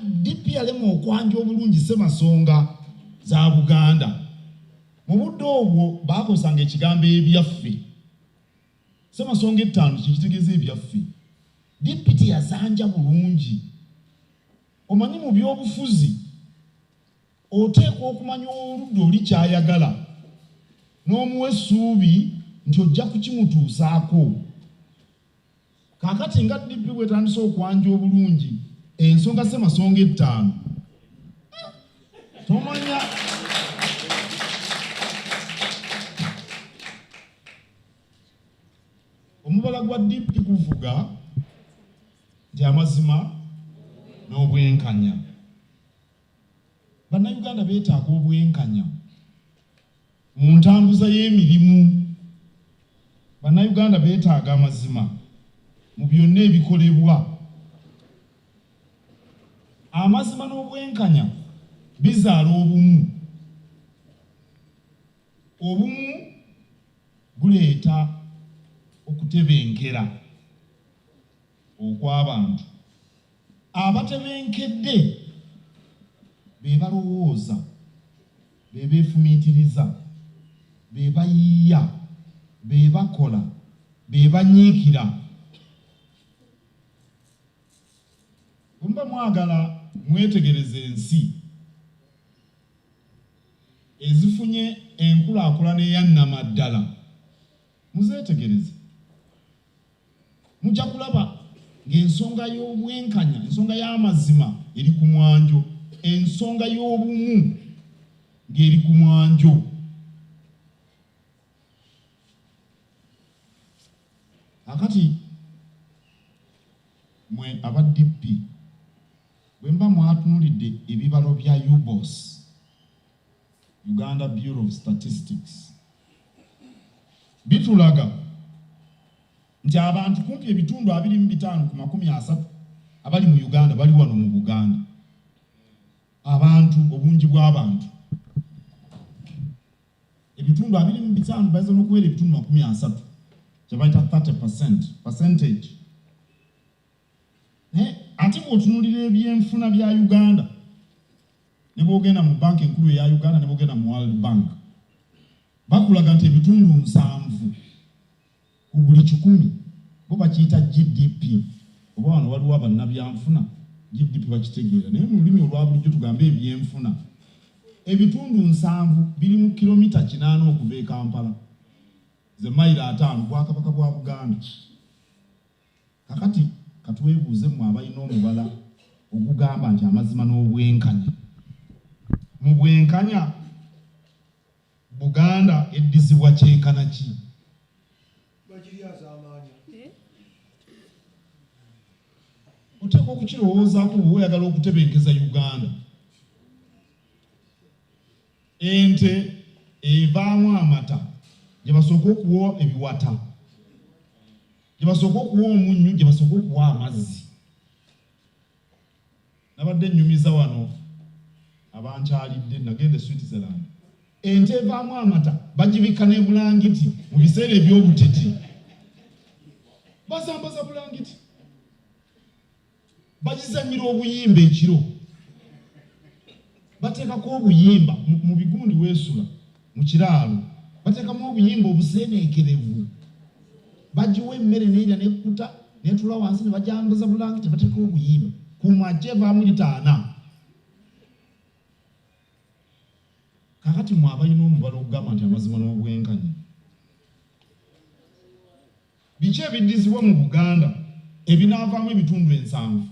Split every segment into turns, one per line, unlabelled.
DP yalema okwanja obulungi ssemasonga za Buganda. Mu budde obwo baakozesanga ekigambo ebyaffe. Ssemasonga ettaano kye kitegeeza ebyaffe. DP teyazanja bulungi. Omanyi mu byobufuzi oteekwa okumanya oludda oli kyayagala n'omuwa essuubi nti ojja kukimutuusaako. Kakati nga DP bwetandise okwanja obulungi ensonga ssemasonga ettaano tomanya omubala gwa DP guvuga nti amazima n'obwenkanya Bannayuganda beetaaga obwenkanya mu ntambuza y'emirimu. Bannayuganda beetaaga amazima mu byonna ebikolebwa. Amazima n'obwenkanya bizaala obumu. Obumu buleeta okutebenkera okw'abantu. abatebenkedde be balowooza be beefumiitiriza be bayiiya be bakola be banyiikira bwemuba mwagala mwetegereza ensi ezifunye enkulaakulana eyannama ddala muzeetegereze mujja kulaba ng'ensonga y'obwenkanya ensonga y'amazima eri ku mwanjo ensonga y'obumu ng'eri ku mwanjo akati mwe aba dp bwe mba mwatunulidde ebibalo bya ubos Uganda Bureau of Statistics bitulaga nti abantu kumpi ebitundu abiri mu bitaano ku makumi asatu abali mu Uganda bali wano mu Buganda. Abantu obungi bw'abantu ebitundu abiri mu bitaano bayinza n'okubeera ebitundu makumi asatu kye bayita 30 percent percentage naye ate bwotunulira ebyenfuna bya uganda nebwogenda mu banka enkulu eya uganda nebwogenda mu world bank bakulaga nti ebitundu nsanvu ku buli kikumi bo bakiyita gdp oba wano waliwo abannabyanfuna gdp bakitegeera naye mu lulimi olwa bulijjo tugambe ebyenfuna ebitundu nsanvu biri mu kilomita kinaana okuva e kampala ze mayiro ataano bwakabaka bwa buganda Kakati katwebuuze mwe abalina omubala ogugamba nti amazima n'obwenkanya mu bwenkanya Buganda eddizibwa kyenkana ki? Eh? Oteekwa okukirowoozaako bwe oyagala okutebenkeza Uganda. Ente evaamu amata gye basooka okuwa ebiwata, gye basooka okuwa omunnyu, gye basooka okuwa amazzi. Nabadde nnyumiza wano abankyalidde, nagenda e Switzerland. Ente evaamu amata bagibikka ne bulangiti mu biseera eby'obutiti, bazambaza bulangiti. bagizanyira obuyimba ekiro bateekako obuyimba mu bigundi weesula mu kiraalo bateekamu obuyimba obuseeneekerevu bagiwa emmere neira nekkuta netula wansi ne bajambuza bulangi tebateeka obuyimba ku maje vaamu litaana kakati mwe abalina omubala okugamba nti amazima n'obwenkanya Biki ebiddizibwa mu Buganda ebinaavaamu ebitundu ensanvu?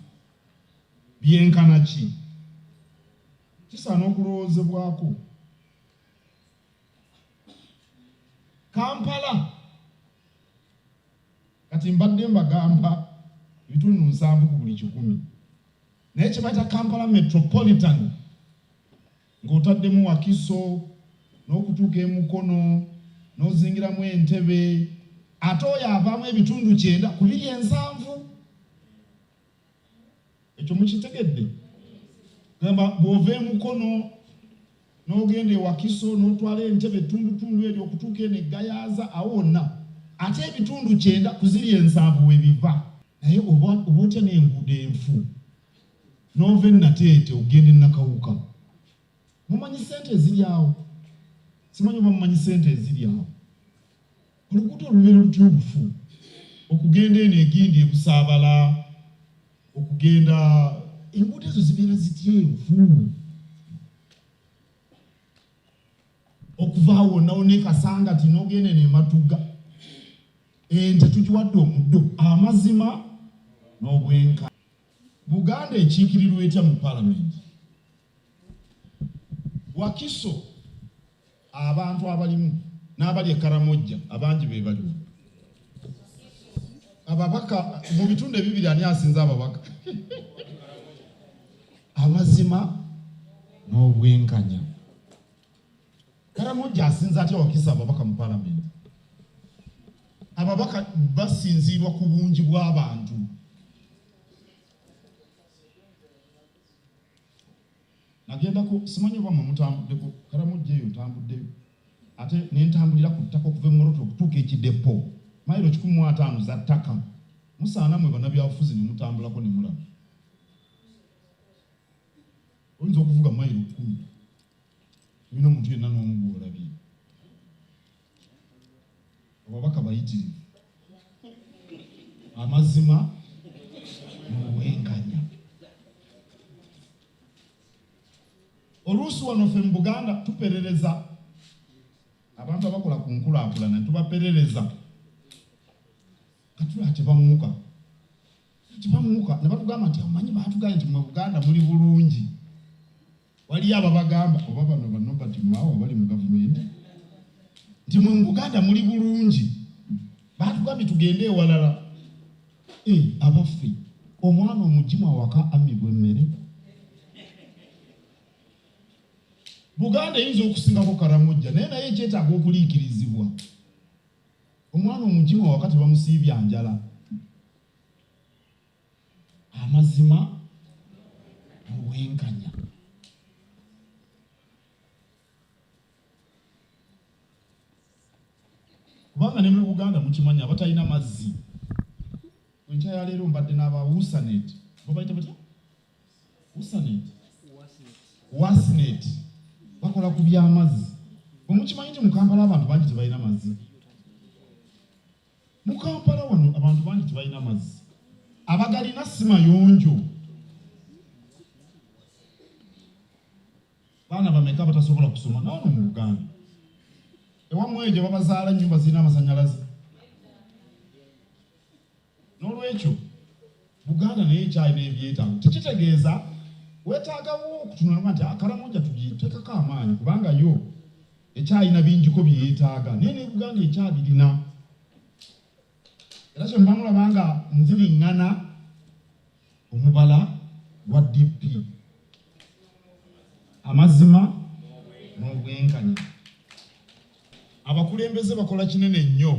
Byenkana ki? Kisaana okulowoozebwako. Kampala kati mbadde mbagamba ebitundu nsanvu ku buli kikumi naye kye bayita Kampala Metropolitan Ng'otaddemu Wakiso n'okutuuka e Mukono n'ozingiramu e Ntebe ate oyo avaamu ebitundu kyenda ku biri ensanvu. Ekyo mukitegedde? Gamba bw'ova e Mukono n'ogenda e Wakiso n'otwala e Ntebe ettundutundu eryo okutuuka eno e Gayaza awo wonna ate ebitundu kyenda ku ziri ensanvu we biva. naye oba otya n'enguudo enfu nova enateete ogenda enakawuka mumanyi sente eziri awo simanyi oba mumanyi sente eziri awo oluguudo olubeera lutuubufu okugenda eno egindi ebusaabala okugenda enguudo ezo zibeera zitya enfu okuvaawo nawo nekasanga ti nogenda eno ematuga ente tugiwadde omuddo amazima n'obwenka Buganda ekiikirirwa etya mu palamenti? Wakiso abantu abalimu n'abali e Karamojja abangi be baliwo. Ababaka mu bitundu ebibiri ani asinze ababaka? Amazima n'obwenkanya. Karamujja asinza atya wakisa ababaka mu palamenti? Ababaka basinziirwa ku bungi bw'abantu. Nagendako simanyi oba mwe mutambuddeko Karamujja eyo ntambuddeyo ate ne ntambulira ku ttaka okuva e Moroto okutuuka e Kidepo mayiro kikumi mu ataano za ttaka musaana mwe banabyabufuzi ne mutambulako ne mulaba oyinza okuvuga mayiro kkumi Bino omuntu yenna n'omu gw'olabye ababaka bayitirivu amazima n'obwenkanya. Oluusi wano ffe mu Buganda tuperereza abantu abakola ku nkulaakulana tubaperereza katula tebamuka tebamuka ne batugamba nti amanyi baatugaye nti mu Buganda muli bulungi waliyo ababagamba oba bano ba Norbert Mao abali mu gavumenti nti mwe mu Buganda muli bulungi batugambye tugende ewalala eh, abaffe omwana omugimu awaka amibwa emmere Buganda eyinza okusingako karamujja naye naye ekyetaaga okuliikirizibwa omwana omugimu awaka tebamusiibya njala amazima mu bwenkanya kubanga ne mu buganda mukimanyi abatalina mazzi enkya ya leero mbadde n'aba usanet babayita batya usanet wasnet bakola ku byamazzi bwemukimanyi nti mukampala abantu bangi tebalina mazzi Mu Kampala wano abantu bangi tebalina mazzi, abagalina si mayonjo. Baana bameka abatasobola kusoma naano mu Uganda? Ewammwe ejo babazaala ennyumba zirina amasanyalaze? N'olwekyo Buganda naye ekyalina ebyetaago tekitegeeza wetaagawo okutunulwa nti akaramoja ah, tugitekako amaanyi kubanga yo ekyalina bingiko byeyetaaga naye ne Buganda ekyabirina era kyemba mulaba nga nziriŋŋana omubala gwa DP amazima n'obwenkanya Abakulembeze bakola kinene nnyo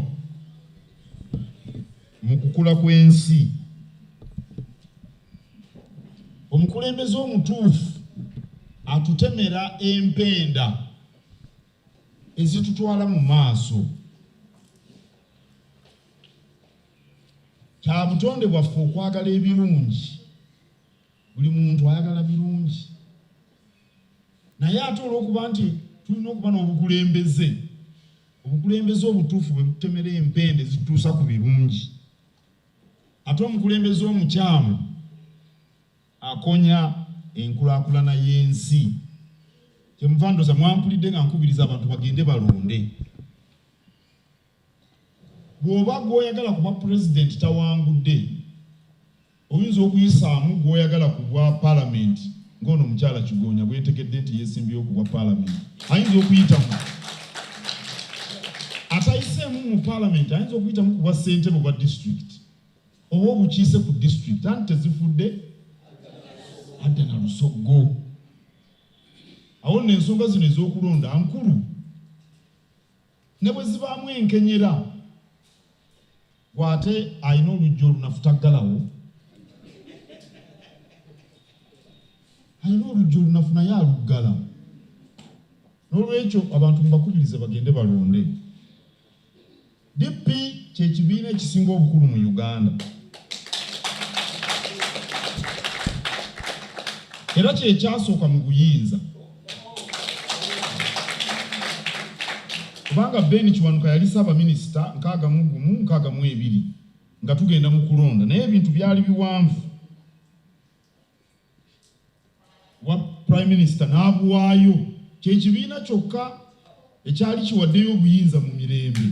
mu kukula kw'ensi. Omukulembeze omutuufu atutemera empenda ezitutwala mu maaso. Kya butonde bwaffe okwagala ebirungi. Buli muntu ayagala birungi. naye ate olwokuba nti tulina okuba n'obukulembeze obukulembeze obutuufu bwe butemera empende zituusa ku birungi ate omukulembeze omukyamu akonya enkulakulana y'ensi kyemuva ndoza mwampulidde nga nkubiriza abantu bagende balonde Bw'oba gw'oyagala ku bwa Pulezidenti tawangudde, oyinza okuyisaamu gw'oyagala ku bwa Palamenti ng'ono omukyala Kigoonya bwe ntegedde nti yeesimbyewo ku bwa Palamenti. Ayinza okuyitamu atayiseemu mu Palamenti, ayinza okuyitamu ku bwa ssentebe bwa disitulikiti oba obukiise ku disitulikiti anti tezifudde adda na lusoggo. Awo nno ensonga zino ez'okulonda nkulu. ne bwe zibaamu enkenyera gwe ate alina oluggi olunafutaggalawo alina oluggi olunafu naye aluggala n'olwekyo abantu mubakubirize bagende balonde dp kyekibiina ekisinga obukulu mu uganda era kyekyasooka mu buyinza kubanga Ben Kiwanuka yali ssaabaminisita nkaaga mu gumu nkaaga mu ebiri nga tugenda mu kulonda naye ebintu byali biwanvu wa prime minister n'abuwaayo kyekibiina kyokka ekyali kiwaddeyo obuyinza mu mirembe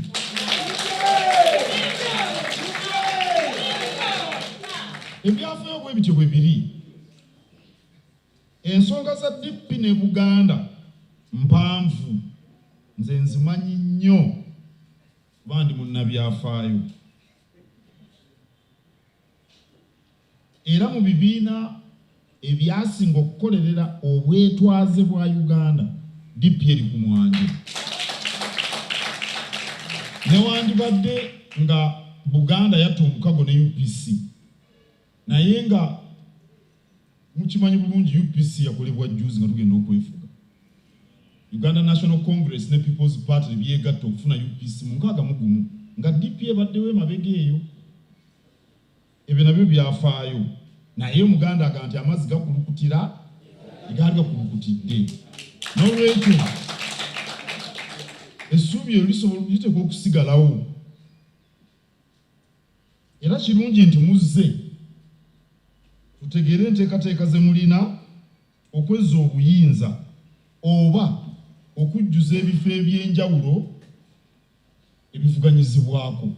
ebyafayo bwe bityo bwe biri Ensonga za DP ne Buganda mpanvu nze nzimanyi nnyo kuba ndi munnabyafaayo era mu bibiina ebyasinga okukolerera obwetwaze bwa Uganda DP eri ku mwanjo newandibadde nga Buganda yatta omukago ne UPC naye nga mukimanyi bulungi UPC yakolebwa juzi nga tugenda okwefuga Uganda National Congress ne People's Party byegatta okufuna UPC mu nkaaga mu gumu nga DP ebaddewo emabega eyo ebyo nabyo byafaayo naye omuganda aga nti amazzi gakulukutira egaali gakulukutidde nolwekyo essuubi eryo lisobola liteekwa okusigalawo era kirungi nti muzze tutegeere enteekateeka ze mulina okwezza obuyinza oba okujjuza ebifo eby'enjawulo ebivuganyizibwako.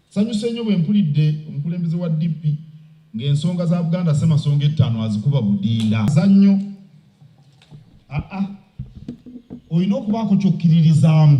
Sanyuse nnyo bwe mpulidde omukulembeze wa DP ng'ensonga za Buganda Ssemasonga ettaano azikuba budinda. Zannyo aa olina okubaako ky'okkiririzaamu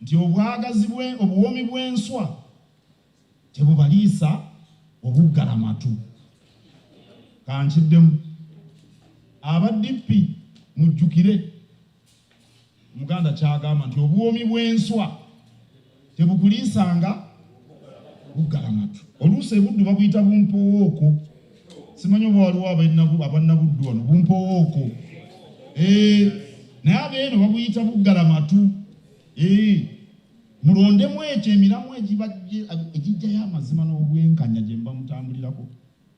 nti obwagazi bwe obuwoomi bw'enswa tebubaliisa obuggalamatu kankiddemu aba DP mujjukire omuganda kyagamba nti obuwoomi bw'enswa tebukuliisanga buggalamatu oluusi ebuddu babuyita bumpowooko simanyi oba waliwo abannabuddu wano bumpowooko eh, naye abeeno babuyita buggala matu eh, mulondemu ekyo emiramu egijjayo amazima n'obwenkanya gye mba mutambulirako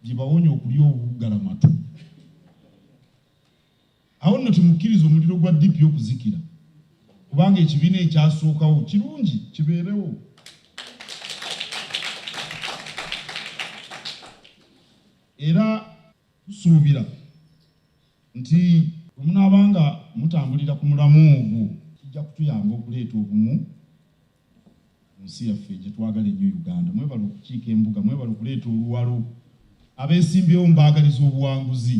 gye bawonya okulya obuggala matu awo nno temukkiriza omuliro gwa ddipi okuzikira kubanga ekibiina ekyasookawo kirungi kibeerewo era tusuubira nti omunaaba nga mutambulira ku mulamu ogwo kijja kutuyamba okuleeta obumu mu nsi yaffe gye twagala ennyo uganda mwebala okukiika embuga mwebala okuleeta oluwalo abeesimbyewo mbaagaliza obuwanguzi